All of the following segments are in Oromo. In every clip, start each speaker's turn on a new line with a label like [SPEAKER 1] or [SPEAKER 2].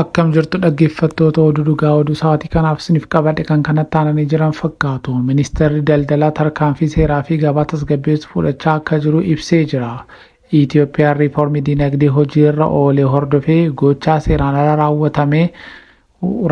[SPEAKER 1] Akkam jirtu dhaggeeffattoota oduu dhugaa oduu sa'aatii kanaaf isiniif qabadhe kan kanatti aananii jiran fakkaatu. Ministeerri daldalaa tarkaanfii seeraa fi gabaa tasgabbeessu fudhachaa akka jiru ibsee jira. Itiyoophiyaan riifoormii diinagdee hojiirra oole hordofee gochaa seeraan ala raawwatame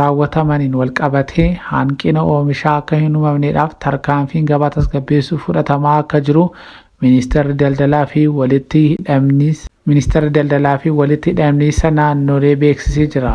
[SPEAKER 1] raawwatamaniin walqabatee hanqina oomishaa akka hin uumamneedhaaf tarkaanfiin gabaa tasgabbeessuu fudhatamaa akka jiru Ministeerri Daldalaa fi Walitti Hidhamniis Ministeerri Daldalaa fi Walitti Hidhamniisa Naannolee beeksisee jira.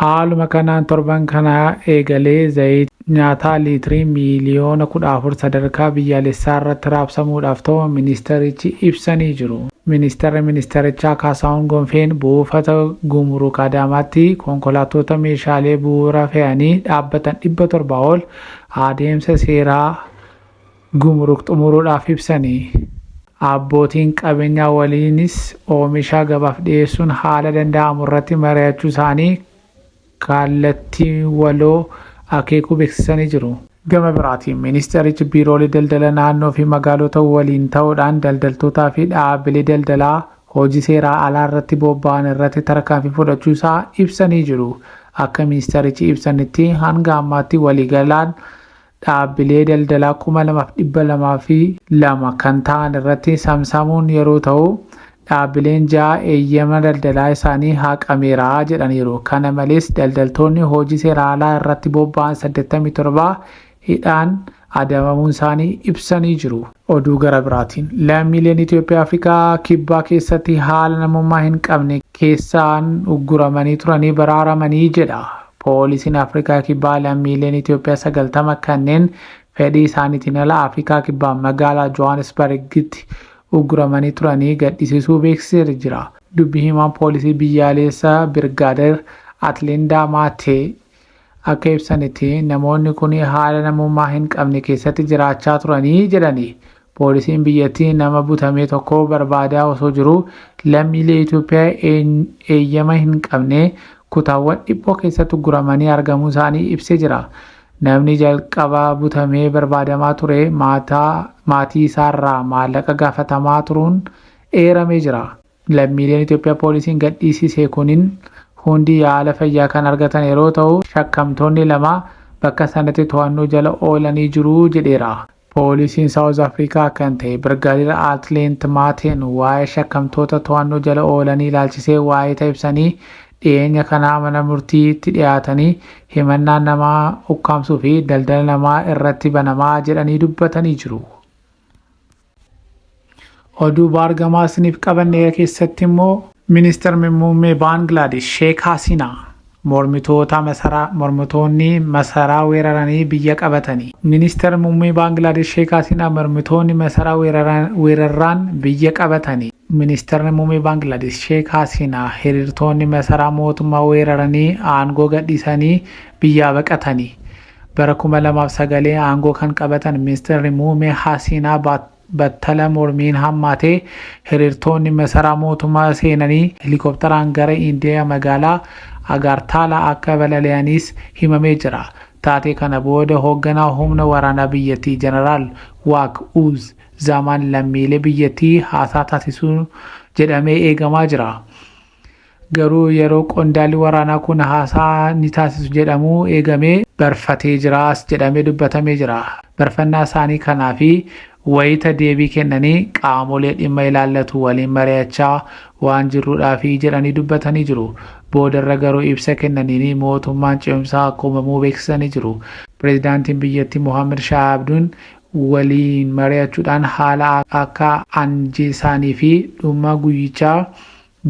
[SPEAKER 1] Haaluma kanaan torban kanaa eegalee zayita. nyaataa liitirii miiliyoona 14 sadarkaa biyyaalessaarratti raabsamuudhaaf ta'uu ministeerichi ibsanii jiru. Ministeerri ministeerichaa Kaasaahun Gonfeen buufata Gumuruuk Adaamaatti konkolaattoota meeshaalee bu'uuraa fe'anii dhaabbatan 700 ol adeemsa seeraa Gumuruuk xumuruudhaaf ibsanii, abbootiin qabeenyaa waliinis oomisha gabaaf dhiyeessuun haala danda'amurratti mari'achuusaanii kallattii waloo akeekuu beeksisanii jiru. Gama biraatiin Ministeerichi Biiroolee Daldala Naannoo fi Magaalota waliin ta'uudhaan daldaltootaa fi dhaabbilee daldalaa hojii seeraa alaa irratti bobba'an irratti tarkaanfii fudhachuu isaa ibsanii jiru. Akka Ministeerichi ibsanitti hanga ammaatti waliigalaan dhaabbilee daldalaa 2,202 kan ta'an irratti samsamuun yeroo ta'u, dhaabbileen 6 eeyyama daldalaa isaanii haqameera jedhaniiru. Kana malees daldaltoonni hojii seeraa alaa irratti bobba'an 87 hidhaan adabamuunsaanii ibsanii jiru. Oduu gara biraatiin lammiileen Itoophiyaa Afrikaa Kibbaa keessatti haala namummaa hin qabne keessaan ugguramanii turanii baraaramanii jedha. Poolisiin Afrikaa Kibbaa lammiileen Itoophiyaa 90 kanneen fedhii isaaniitiin ala Afrikaa Kibbaa magaalaa Johaanisbargitti ugguramanii turanii gadhiisisuu beeksiseera jira. Dubbi himaan poolisii biyyaaleessa Birgaadeer Atlindaa Maatee Akka ibsanitti namoonni kun haala namummaa hin qabne keessatti jiraachaa turanii jedhani. Poolisiin biyyattii nama butamee tokko barbaadaa osoo jiruu lammiilee Itoophiyaa eeyyama hin qabne kutaawwan dhiphoo keessatti ugguramanii argamuu isaanii ibsee jira. Namni jalqaba butamee barbaadamaa ture maatii isaarraa maallaqa gaafatamaa turuun eeramee jira. Lammiileen Itoophiyaa poolisiin gadhiisise kunin hundi yaala fayyaa kan argatan yeroo ta'u, shakkamtoonni lama bakka sanatti to'annoo jala oolanii jiru jedheera. Poolisiin Saawuz Afrikaa kan ta'e Birgaadeer Aatleent Maateen waa'ee shakkamtoota to'annoo jala oolanii ilaalchisee waayita ibsanii, dhiyeenya kana mana murtiitti dhiyaatanii himannaan nama ukkaamsuu fi daldala namaa irratti banamaa jedhanii dubbatanii jiru. Oduu baargamaa isiniif qabanne keessatti immoo Ministeerri Muummee Baangilaadesh Sheek Hasiinaa mormitoota masaraa mormitoonni masaraa weeraranii biyya qabatanii. Ministeerri Muummee Baangilaadesh Sheek Hasiinaa mormitoonni masaraa weeraraan biyya qabatanii. Ministeerri Muummee Baangilaadesh Sheek Hasiinaa hiriirtoonni masaraa mootummaa weeraranii aangoo gadhiisanii biyyaa baqatanii. Bara 2009 aangoo kan qabatan Ministirri Muumee Hasiinaa battala mormiin hammaatee hiriirtoonni masaraa mootummaa seenanii helikoptaraan gara Indiyaa magaalaa Agaartaalaa akka balali'aniis himamee jira. Taatee kana booda hoogganaa humna waraanaa biyyattii Jeneraal Waak Uuz Zaamaan lammiilee biyyattii haasaa taasisuu jedhamee eegamaa jira. Garuu yeroo qondaalli waraanaa kun haasaa ni taasisu jedhamu eegamee barfatee jiraas jedhamee dubbatamee jira. Barfannaa isaanii kanaa fi wayita deebii kennanii qaamolee dhimma ilaallatu waliin mari'achaa waan jirruudhaafi jedhanii dubbatanii jiru. Boodarra garuu ibsa kennaniin mootummaan ce'umsaa akka uumamuu beeksisanii jiru. Pireezidaantiin biyyattii Mohaammad Shaah Abduun waliin mari'achuudhaan haala akka anjeesaanii fi dhuma guyyichaa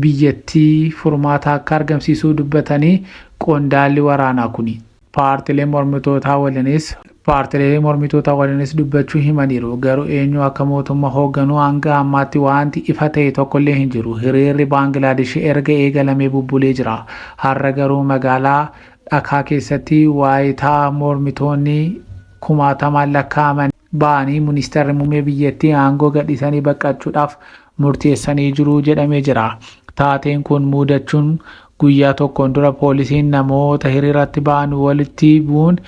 [SPEAKER 1] biyyattii furmaata akka argamsiisuu dubbatanii qondaalli waraanaa kuni. Paartilee mormitootaa waliinis Paartilee mormitootaa waliinis dubbachuu himaniiru. Garuu eenyu akka mootumma hoogganu hanga ammaatti waanti ifa ta'e tokkollee hin jiru. Hiriirri Baangilaadish erga eegalamee bubbulee jira. Har'a garuu magaalaa Dhakaa keessatti waayita mormitoonni. kumaatamaan lakkaa'aman ba'anii ministeerri muummee biyyattii aangoo gadhiisanii baqachuudhaaf murteessanii jiru jedhamee jira. Taateen kun muudachuun guyyaa tokkoon dura poolisiin namoota hiriiratti ba'an walitti bu'uun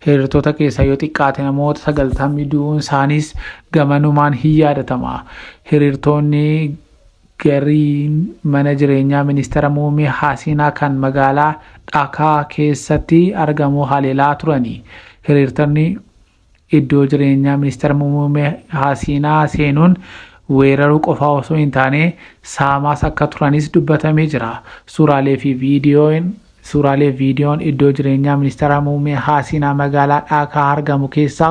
[SPEAKER 1] hiriirtota keessaa yoo xiqqaate namoota sagaltamni du'uun isaaniis gamanumaan hin yaadatama. Hiriirtoonni Gariin mana jireenyaa Ministira Muummee Hasiinaa kan magaalaa Dhakaa keessatti argamu haleelaa turani. Hiriirtonni iddoo jireenyaa Ministira Muummee Hasiinaa seenuun weeraruu qofaa osoo hin taane saamaas akka turanis dubbatamee jira. Suuraalee fi viidiyoon Suuraalee viidiyoon iddoo jireenyaa Ministara Muummee Haasiinaa magaalaa Dhaakaa argamu keessaa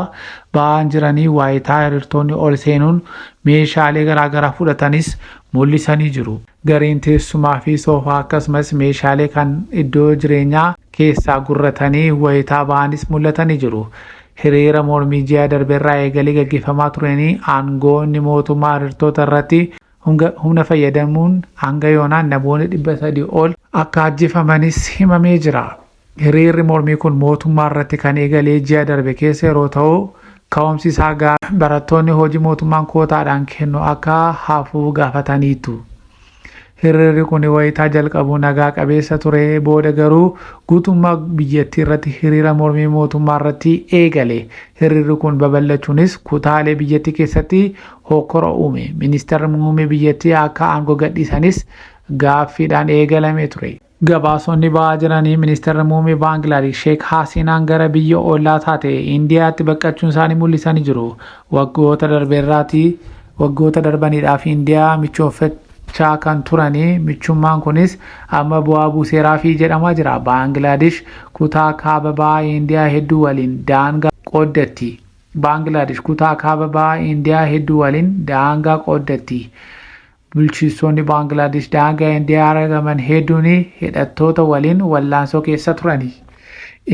[SPEAKER 1] ba'aan jiranii waayitaa hirirtoonni ol seenuun meeshaalee garaagaraa fudhatanis mul'isanii jiru. Gariin teessumaa fi soofaa akkasumas meeshaalee kan iddoo jireenyaa keessaa gurratanii wayitaa ba'anis mul'atanii jiru. Hiriira mormii ji'a darberraa eegalee gaggeeffamaa tureenii aangoonni mootummaa hirirtoota irratti Honga humna fayyadamuun hanga yoonaa namoonni 300 ol akka ajjefamanis himamee jira. Hiriirri mormii kun mootummaa irratti kan eegalee ji'a darbe keessa yeroo ta'u ka'umsi isaa gaa barattoonni hojii mootummaan kootaadhaan kennu akka hafuu gaafataniitu. Hiriirri kun wayitaa jalqabu nagaa qabeessa ture booda garuu guutummaa biyyattii irratti hiriira mormii mootummaa irratti eegale. Hiriirri kun babal'achuunis kutaalee biyyattii keessatti hokkora uume. Ministeerri muummee biyyattii akka aangoo gadhiisanis gaaffiidhaan eegalamee ture. Gabaasonni ba'aa jiranii ministeerri muummee Baangilaadesh Sheek Haasinaan gara biyya ollaa taate Indiyaatti baqqachuun isaanii mul'isanii jiru. Waggoota darbeerraati waggoota darbaniidhaaf Indiyaa michooffachaa kan turanii michummaan kunis amma bu'aa buuseeraafi jedhamaa jira. Baangilaadesh kutaa kaaba ba'aa Indiyaa hedduu waliin daangaa qooddatti. Baanglaadish kutaa kaaba bahaa Indiyaa hedduu waliin daangaa qooddatti. Bulchiistoonni Baanglaadish daangaa Indiyaa aragaman hedduun hidhattoota waliin wallaansoo keessa turani.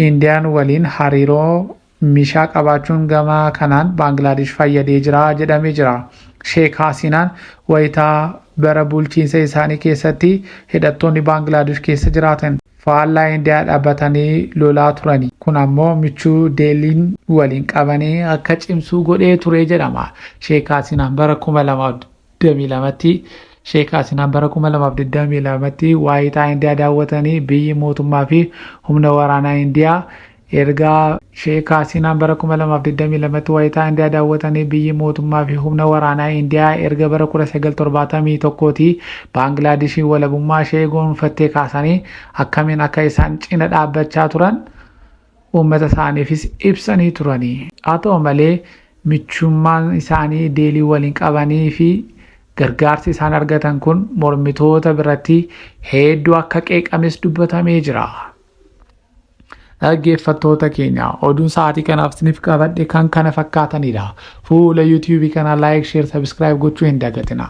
[SPEAKER 1] Indiyaan waliin hariiroo mishaa qabaachuun gama kanaan Baanglaadish fayyadee jira jedhamee jira. Sheek Haasinaan wayita bara bulchiinsa isaanii keessatti hidhattoonni Baanglaadish keessa jiraatan. faallaa Indiyaa dhaabbatanii lolaa turani. Kun ammoo michuu Deelliin waliin qabani akka cimsuu godhee ture jedhama. Sheek Haasinaan bara 2022tti Sheek Haasinaan bara 2022tti waayitaa Indiyaa daawwatanii biyyi mootummaa fi humna waraanaa Indiyaa Erga Sheek Hasiinaan bara 2022tti wayitaa Indiyaa daawwatanii biyyi mootummaa fi humna waraanaa Indiyaa erga bara 1971tti Baangilaadishiin walabummaa ishee goonfattee kaasanii akkamiin akka isaan cina dhaabbachaa turan uummata isaaniifis ibsanii turani. Haa ta'u malee michummaan isaanii Deelii waliin qabanii fi gargaarsi isaan argatan kun mormitoota biratti hedduu akka qeeqames dubbatamee jira. Dhaggeeffattoota keenya oduun sa'aatii kanaaf isiniif qabadhe kan kana fakkaatanidha. Fuula YouTube kanaa like, share, subscribe gochuu hin dagatinaa.